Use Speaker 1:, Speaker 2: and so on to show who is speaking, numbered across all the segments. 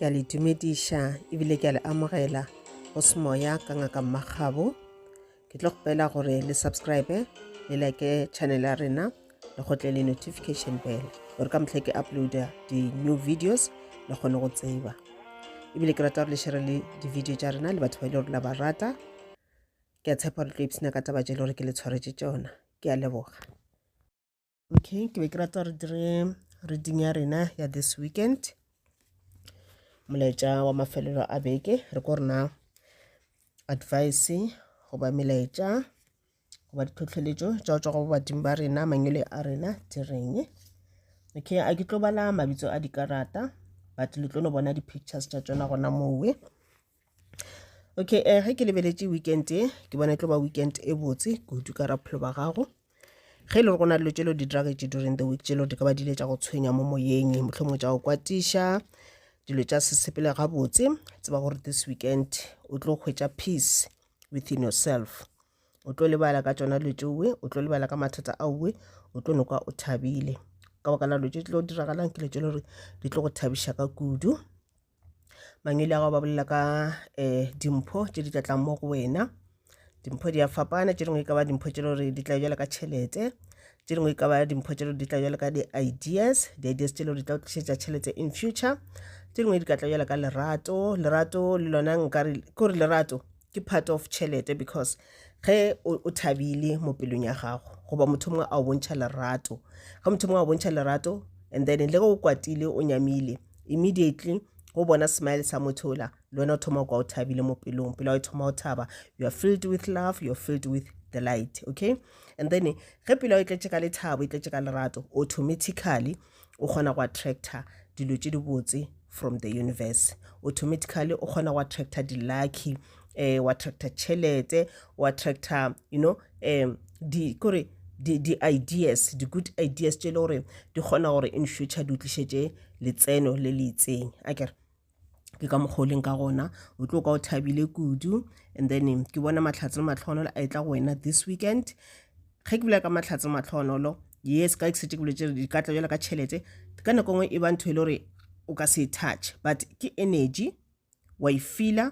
Speaker 1: ke a le dumediša ebile ke a le amogela go semoya ka ngaka mmagabo ke tlo kgopela gore le subscribe le like channel ya rena le gotle le notification bell gore ka motlhe ke uploada di-new videos le kgone go tseba ebile ke rata gore le shere le di-video tša rena le batho ba e le gore la ba rata ke a tshepa gore tlo ipsena ka taba tše le gore ke le tshwaretše tšona ke a leboga okay ke be ke rata re dire reading ya rena ya this weekend molaetša wa mafelelo a beke re ko rena advice goba melaetša goba ditlhotlheletšo tša go tswa go badimo ba rena mangwele a rena di reng okay a ke tlo bala mabitso a dikarata but le tlo no bona di-pictures tša tsona gona mowe okay um ge ke lebeletše weekend e ke bona e tlo ba weekend e botse kudu ka raphelo ba gago ge e le gore go na dilo tšelo di dragetše during the week tšelo di ka ba dile tša go tshwenya mo moyeng motlho mongwe tša go kwatiša dilo tša sesepele gabotse tseba gore this weekend o tlo hwetša peace within yourself o tlo lebala ka tšona dilo tšeoe o tlo lebala ka mathata aoe o tlo nokwa o thabile ka baka la dilo tše tlo diragalang ke dilo tše le gore di tlo go thabiša ka kudu mangwele a gago ba bolela ka um dimpho tše di tla tlang mo go wena dimpho di a fapana tše dingwe e ka ba dimpho tše gore di tla jalo ka tšhelete tše dingwe e ka ba dimpho tše gore di tla jalo ka di-ideas di-ideas tše le gore di tla go tlišetša tšhelete in future tše dingwe di ka tla jalo ka lerato lerato le lona nkare kore lerato ke part of tšhelete because ge o thabile mo pelong ya gago goba motho mongwe a o bontšha lerato ge motho mongwe a o bontšha lerato and then le ge o kwatile o nyamile immediately go bona smile sa motho ola le wena o thoma kwa o thabile mo pelong pele o thoma o thaba you are filled with love you are filled with the light okay and then ge pelo e tletše ka lethabo e tletše ka lerato automatically o kgona go attracta dilo tše dibotse from the universe automatically o kgona go attracta di-lucky um wa attracta tšhelete wa attracta you know um di kore di-ideas di-good ideas tše e le gore di kgona gore in future di utlišetše letseno le le itseng a kere ke ka mokgwa o leng ka gona o tlo ka o thabile kudu and then ke bona mahlatse le matlhogonolo a e tla go wena this weekend ge ke bula ka mahlatse le matlhogonolo yes ka setse ke boletse di ka tla jalo ka tšhelete ka nako nngwe e ba ntho e le gore o ka se touch but ke energy wa e feela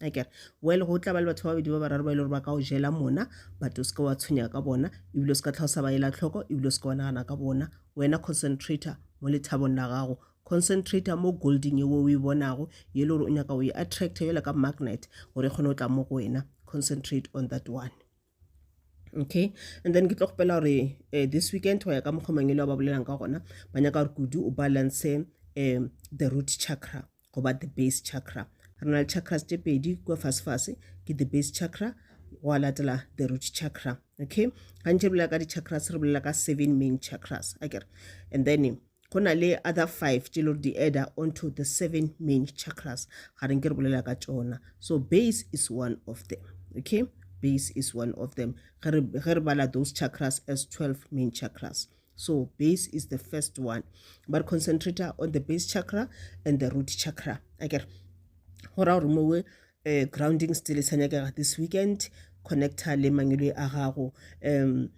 Speaker 1: a kere well go tla ba le batho ba babedi ba bararo ba e le gore ba ka o jela mona but o seke wa tshwenyega ka bona ebile o se ka tlha o sa ba ela tlhoko ebile o seke wa nagana ka bona wena concentrator mo lethabong la gago concentrator mo golding ye o e bonago ye le gore o nyaka o e attracta yola ka magnet gore e kgone go tla mo go wena concentrate on that one okay and then ke tlo kgopela gore uh, this weekend go ya ka mokgwa mangelo ba bolelang ka gona ba nyaka gore kudu o balance um the root chakra goba the base chakra re na le chakras tše pedi kua fasefase ke the base chakra wa latela the root chakra okay gantši re bolela ka di-chakras re bolela ka seven main chakras akere and then go na le other five tše lore di adda onto the seven main chakras ga reng ke re bolela ka tšona so base is one of them okay base is one of them ge re bala those chakras as 12 main chakras so base is the first one but concentrator on the base chakra and the root chakra akere go raya gore mowe um grounding still sa nyakega this weekend connector le mangwele a gago um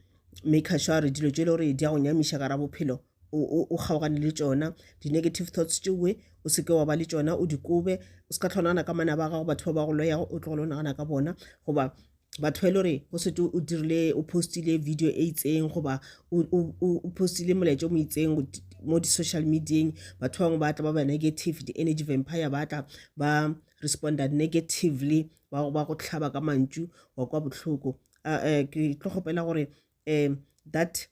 Speaker 1: maker sure gore dilo tše e le gore di ya go nyamiša gara bophelo o kgaogane le tšona di-negative thoughts tšewe o seke wa ba le tšona o dikobe o se ka tlho nagana ka mana ba gago batho ba ba go loyago o tlogole o nagana ka bona goba batho ba e le gore go sete o dirile o postile video e itseng goba o postile molaetša o mo itseng mo di-social medieng batho bangwe ba tla ba ba negative di-energy vampire ba tla ba responder negatively wa ba go hlaba ka mantšu wa kwa bohloko uh, uh, ke tlo kgopela gore um that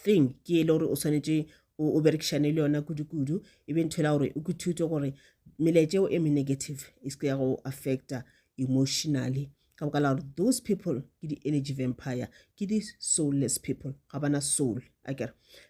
Speaker 1: thing ke ele gore o swanetše o berekišane le yona kudu-kudu e be nthwela gore o kuthute gore meletšeo e me-negative e se ya go affecta emotionally ka boka la gore those people ke di-energy vampire ke di-soulless people ga bana soul a kere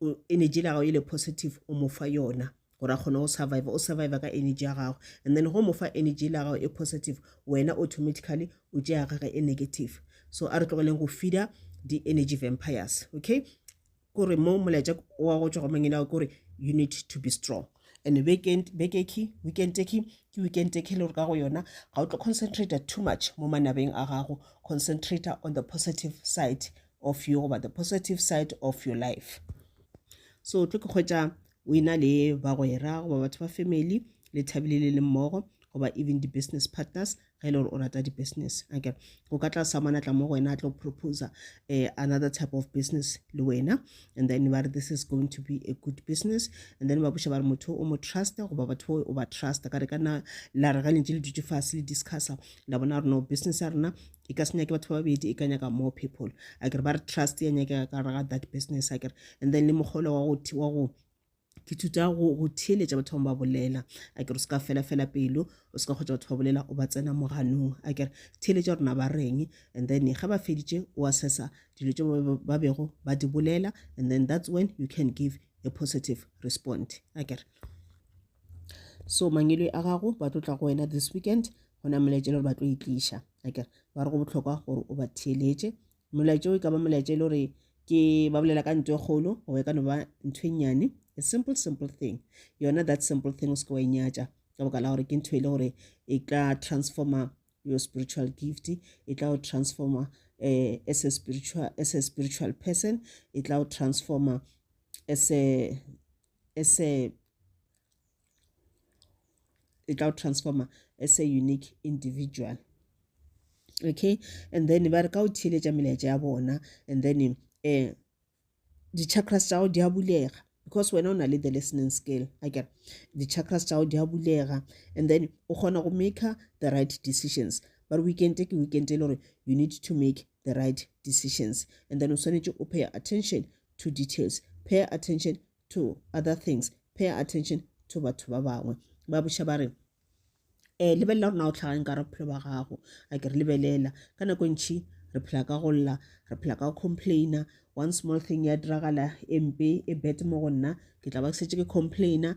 Speaker 1: o energy la gago e le positive o mo fa yona gore a kgone go survive o survive ka energy ya gago and then go mo fa energy la gago e positive wena automatically o tšea gage e negative so a re tlogeleng go feeder di-energy vampires okay kore mo molaetša wa go tšwa go mangene ao kore you need to be strong and weekend bekeki weekend teki ke weekend teki le gore ka go yona ga o tlo concentrate too much mo manabeng a gago concentrate on the positive side of you goba the positive side of your life so tlo ke kgwetsa o ena le bagwera goba batho ba family le thabile le le mmogo goba even di-business partners ge e le gore o rata di-business anke o ka tla samana tla mo go wena a tlo proposa um eh, another type of business le wena and then ba re this is going to be a good business and then ba boša ba re motho o mo trusta goba batho o ba trusta ka re ka nna la re ga lentse le dutse fase le discussa la bona gore no business ya rena e ka se nyake batho ba babedi e ka nyaka more people a kere ba re trust ya nyakega ka gare ga that business a kere and then le mogolo wa go wa go ke thuta go go theeletša batho bangwe ba bolela a kere o se ka fela fela pelo o se ka kgotsa batho ba bolela o ba tsena mo ganong a kere theeletša rona ba reng and then ga ba feditše o assessa dilo tse ba bego ba di bolela and then that's when you can give a positive response a kere so mangwele a gago ba tlo tla go wena this weekend go na molaetša le gore ba tlo e tliša akere ba re go bohlokwa gore o ba theeletše molaetša o e ka ba molaetša e le gore ke ba bolela ka ntho e kgolo goba e ka no ba ntho e nnyane a simple simple thing yona that simple thing o se ke wa e nyatša ka boka la gore ke ntho e le gore e tla transforma your spiritual gift e tla go transforma eh, as, a spiritual, as a spiritual person e tla go transforma as a as a e tla transformer as a unique individual okay and then ba re ka o theeletša melaetša ya bona and then um eh, di-chakras tša go di a bulega because wena o na le the listening skill akere di-chakras tša go di a bulega and then o kgona go maker the right decisions but weekend ke weekend e le gore you need to make the right decisions and then o swanetše o pay attention to details pay attention to other things pay attention to batho ba bangwe ba boša ba re um lebelela gore na o tlhageng ka re bophelo ba gago a ke re lebelela ka nako e ntšhi re phela ka go lla re phela ka complaina one small thing ya diragala e mpe e bet mo go nna ke tla ba ke setse ke complaina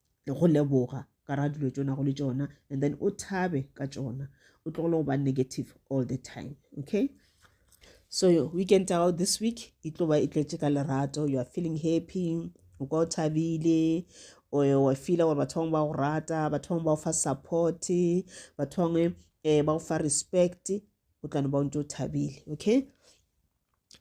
Speaker 1: le go leboga ka ra dilo tšona go le tšona and then o thabe ka tšona o tlogele go ba negative all the time okay so weekend ya gago this week e tlo ba e tletše ka lerato you are feeling happy o kwa o thabile wa feela gore batho bangwe ba go rata batho bangwe ba go fa support batho bangwe um ba go fa respect o tlano ba o ntse o thabile okay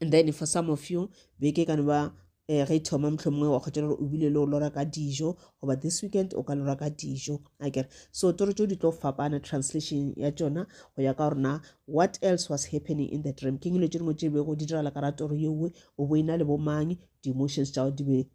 Speaker 1: and then for some of you beke ka no ba um ge e thoma mohlomongwe wa kgotela gore o bile le go lora ka dijo goba this weekend o ka lora ka dijo a kere so toro tso di tlo fapana translation ya tsona go ya ka gorena what else was happening in the dream ke ngelo tse dingwe tse bego di diragala ka ra toro yeoe o bo e na le bomang di-emotions tsa go di be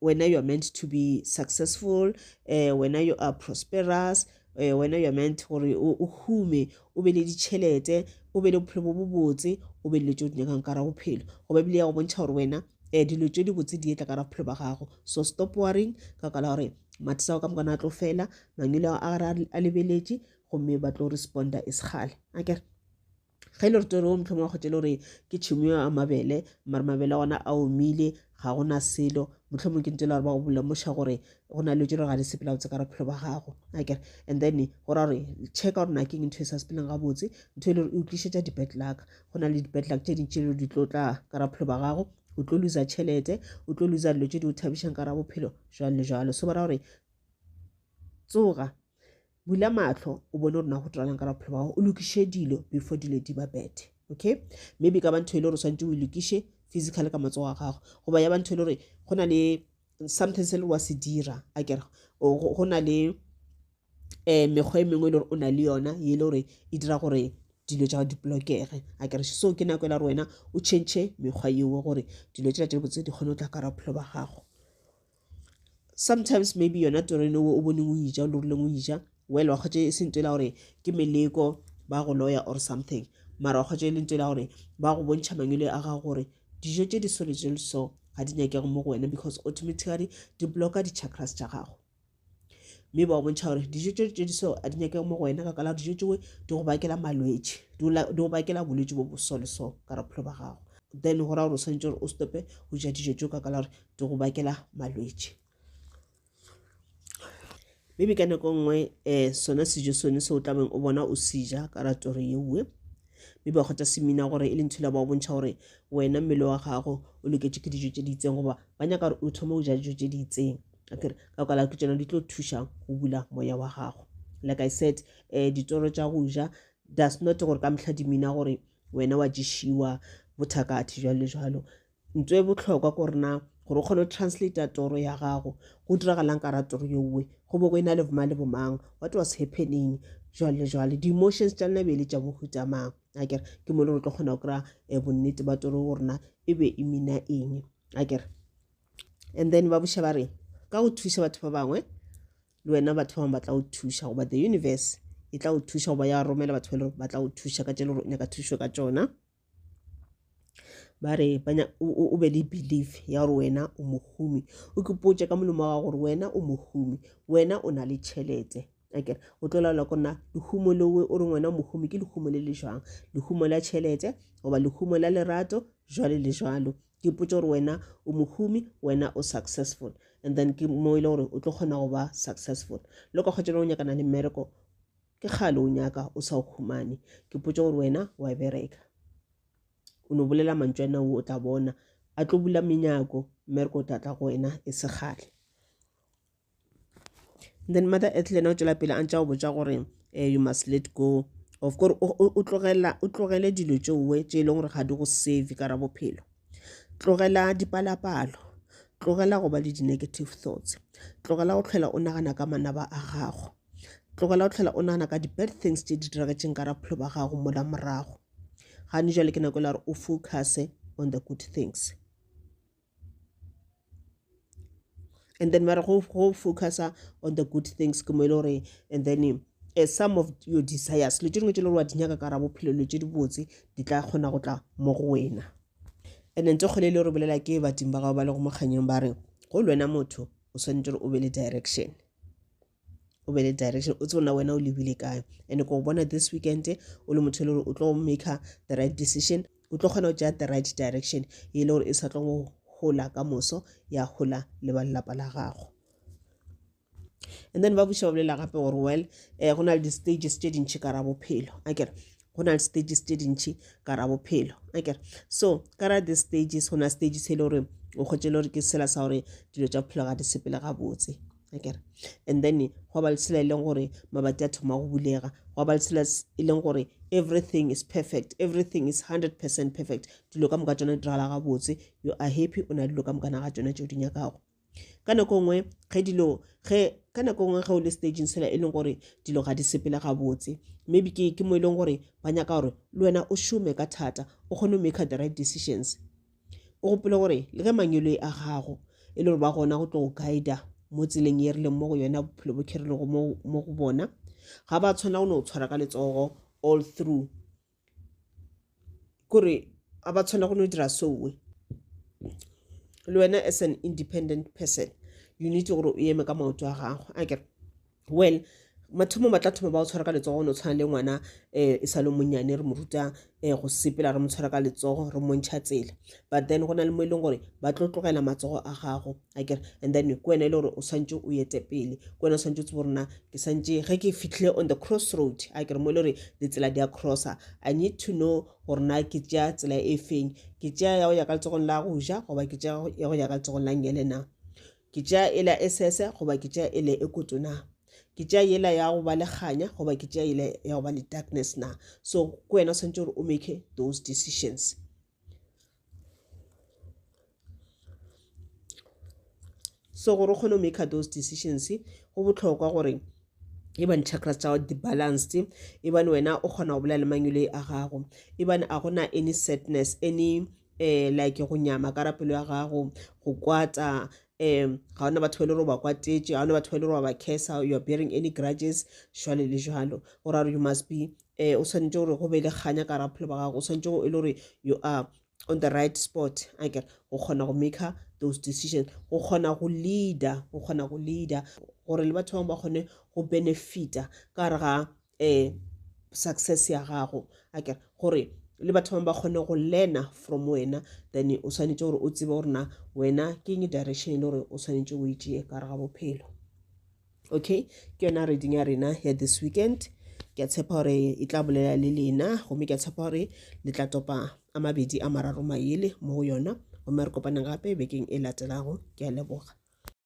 Speaker 1: wena you are meant to be successful eh, wena you are prosperous eh, wena you are meant gore o hume o be le ditšhelete o be le bophelo bo bobotse o be le tse o di nyakang ka ra bophelo go ba bile ya go bontšha gore wena um dilo tse di botse di etla ka ra bophelo ba gago so stop worrying ka kala gore mathisa go ka mokana a tlo fela mangelo a gare a lebeletše gomme ba tlo responda e sekgale akere ge e le gore tsone o motlhomo wa kgotse e le gore ke tšhimo ya a mabele mare mabele ona a omile ga gona selo motlhomong ke ntse le gore ba go bolemoša gore go na le tse le ga di sepela botse ka re phelo ba gago akere and then go ra gore checka gore na keng ntho e sa sepeleng gabotse ntho e le gore e utlišetša di-bad luck go na le di-bad luck tse dintši le di tlo tla ka ra phelo ba gago o tlo losa tšhelete o tlo losa dilo tse di o thabišang ka ra bophelo jalo le jalo so ba ra gore tsoga Bula mahlo o bone gore na go tiralang ka bophelo ba gago o lokiše dilo before dilo di ba bethe okay maybe ka ba ntho e le gore o swantse o lokiše physical ka matsogo a gago goba ya ba ntho e le gore go na le something se le wa se dira a kere go na le um mekgwa e mengwe e le gore o na le yona e le gore e dira gore dilo tša di blokege a kere so ke nako e la gore wena o change mekgwa yeo gore dilo tšela tše botse di kgone go tla ka ra bophelo ba gago sometimes maybe yona toreno o boneng o ija o lorileng o ija well wa kgotse e sento e la gore ke meleko ba go loya or something mara wa kgotse e lento e la gore ba go bontšha mangwele a gago gore dijo tse di sole tse so ga di nyakego mo go wena because automatically di blocka di-chakras tša gago mme ba go bontšha gore dijo tse tse di so a di nyakego mo go wena ka kala dijo tsewe di go bakela malwetse di go bakela bolwetse bo bosole so ka rapholo ba gago then go ra gore o tshwanetse gore o stope go ja dijo tse ka kala gore di go bakela malwetši maybe ka nako nngwe um sona sejo sone se o tlabeng o bona o seja ka ratori yeoe mme ba kgotha semina gore e le ntho la ba bontšha gore wena mmele wa gago o loketše ke dijo tše di itseng goba ba nyaka gore o thome go ja dijo tše di itseng akere ka kwala ke tsona di tlo thuša go bula moya wa gago like i said um ditoro tša go ja does not gore ka mehla dimina gore wena wa ješiwa bothakathe jalo le jalo Nto e bohlokwa ke gore na gore o kgone go translator toro ya gago go diragalang ka ra toro yowe go bo go e na le boma le bomang what was happening jwale le jwale di-emotions tša nna bele tša bohuta mang a kere ke mo le gore tlo kgona go kry-a um bonnete ba toro go rena e be e mina eng a kere and then ba boša ba re ka go thuša batho ba bangwe le wena batho ba bangwe ba tla go thuša goba the universe e tla go thuša goba ya romela batho ba le gore ba tla go thuša ka tše le gore o nyaka thušo ka tšona ba re o be le belief ya gore wena o mohumi o kepotse ka molemo wa gore wena o mohumi wena o na le tšhelete akere o tlo laola ko nna lehumo lewe o reng wena o mohumi ke lehumo le le jwang lehumo la tšhelete goba lehumo la lerato jwale le jwalo ke potse gore wena o mohumi wena o successful and then ke mo e le gore o tlo kgona go ba successful le ka kgwetšana o nyakana le mmereko Ke kgale o nyaka o sa o humane. Ke potše gore wena o a bereka. O no bolela mantšu a nna o tla bona. A tlo bula menyako mme re ko tla tla go wena e se kgale. Then mother earth le yena o tšwela pele a ntša o botša gore um you must let go of gore o tlogela o tlogele dilo tšeowe tše e leng gore ga di go save ka ra bophelo tlogela dipalapalo tlogela go ba le di-negative thoughts tlogela go tlhola o nagana ka manaba a gago Tlogela go tlhola o nagana ka di-bad things tše di diragetšeng ka raphelo ba gago mola morago. Gane jale ke nako e la gore o focuse on the good things. And then ba re go focusa on the good things ke mo e le gore and then uh, some of your desires le tše dingwe tše le gore wa di nyaka ka ra bophelo le tše dibotse di tla kgona go tla mo go wena and then tse kgole e le gore bolela ke badimo ba gago ba le go mokganyeng ba re go le wena motho o swanetse gore o be le direction o be le direction o tsebona wena o lebile kae and ko bona this weekend o le motho e le gore o tlo maker the right decision o tlo kgona go tšea the right direction e le gore e sa tlo go gola ka moso ya gola le ba lelapa la gago and then ba buša ba bolela gape gore well um go na le di-stages tše dintšhi ka ra bophelo a kere go na le stages tše dintšhi ka ra bophelo akere so ka ra the stages go na stage se e le gore o kgwetse le gore ke sela sa gore dilo tša bophelo ga di sepele gabotse akere and then go ba le sela e leng gore mabati a thoma go bulega go ba le sela e leng gore everything is perfect everything is 100 percent perfect dilo ka moka tsona di diragala gabotse you are happy o na dilo ka moka na ga tsona tšeo di nyakago ka nako nngwe ge dilo ge ka nako nngwe ge o le stageng sela e leng gore dilo ga di sepele gabotse maybe ke ke mo e leng gore ba nyaka gore le wena o šome ka thata o kgone go make the right decisions o gopole gore le ge manyolo e a gago e le gore ba gona go tlo go guida mo tseleng e rileng mo go yona bophelo bo kherilego mo go bona ga ba tshwana go no tshwara ka letsogo all through kore a ba tshwana go no dira sowe le wena as an independent person you need gore o eme ka maoto a gago a kere well mathomo ba tla thoma ba o tshwara ka letsogo no tshwana le ngwana um e sa le monnyane re mo ruta um go sepela re mo tshwara ka letsogo re montšha tsela but then go na le mo e leng gore ba tlo tlogela matsogo a gago a kere and then ke wena e le gore o swantse o yete pele ke wena o swantse o tsebo gore na ke swantse ge ke fitlhile on the cross road a kere mo e le gore ditsela di a crossa i need to know gore na ke tšea tsela e feng ke tšea ya go ya ka letsogong la go ja goba ke tšea ya go ya ka letsogong la ngele na ke tšea e la e sese goba ke tšea e le e koto na ke tšea yela ya go ba le kganya goba ke tšea yela ya go ba le darkness na so ke wena o swantse gore o make those decisions So gore o kgone go maker those decisions go botlhokwa gore e bane chakras tsa di balanced e bane wena o kgona go bolela le mangwele a gago e bane a gona any sadness any um like go nyama ka rapelo ya gago go kwata um ga ona batho ba le gore ba kwatetše ga ona batho ba le gore ba ba cursa you are bearing any grudges jwale le jwalo go ra gore you must be um o swanetše gore go be le kganya ka raphelo ba gago o swanetše e le gore you are on the right spot a kere go kgona go maker those decisions go kgona go leader go kgona go leader gore le batho bangwe ba kgone go benefita ka re ga um success ya gago a kere gore le batho bangwe ba kgone go learna from wena then o swanetše gore o tsebe gore na wena ke eng direction e le gore o swanetše o e tšee ka re ga bophelo okay ke yona reading ya rena ya this weekend ke a tshepa gore e tla bolela le lena gomme ke a tshepa gore le tla topa a mabedi a mararo mayele mo go yona gomme re kopaneng gape bekeng e latelago ke a leboga